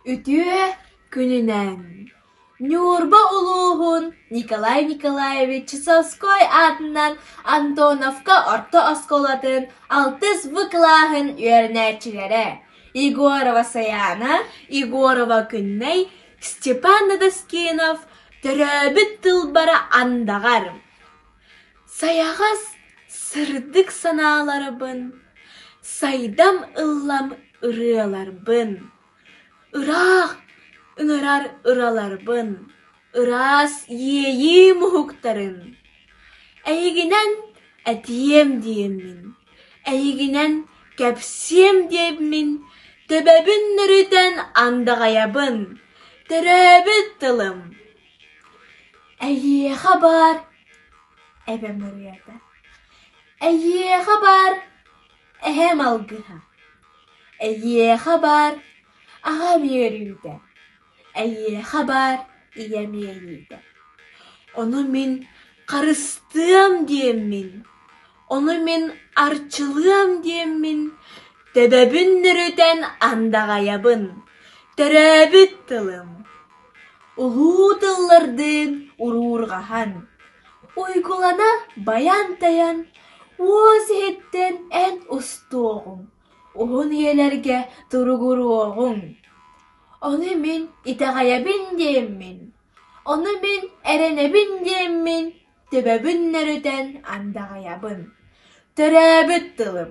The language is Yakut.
Үтүө күнүнэн, Ньурба улууһун Николай Николаевич Сосской аатынан Антоновка орто оскуолатын алтыс В кылааһын үөрэнээччилэрэ Егорова Сайаана, Егорова Күннэй, Степан Надоскинов төрөөбүт тылбара андаҕар Сайаҕас сырдык санааларбын, сайдам ыллам ырыаларбын, ыраах ыҥырар ыраларбын, ыраас иэйиим уһуктарын. Эйигинэн этиэм диэммин, эйигинэн кэпсиэм диэммин, төбөбүн нөрүтэн андаҕайабын, төрөөбүт тылым. Эйиэхэ баар эбэм ырыата, Эйиэхэ баар эһэм алгыһа, Эйиэхэ баар аҕам үөрүүтэ, Эйиэхэ баар ийэм иэйиитэ, Ону мин харыстыам диэммин Ону мин арчылыам диэммин, төбөбүн нөрүтэн андаҕайабын, төрөөбүт тылым, улуу тыллардыын уруурҕаһан, уйгулана байан-тайан, уос иһиттэн эн устуоҕуҥ, уһун ийэлэргэ туругуруоҕуҥ. Ону мин итэҕэйэбин диэммин, ону мин эрэнэбин диэммин Төбөбүн нөрүтэн андаҕайабын, төрөөбүт тылым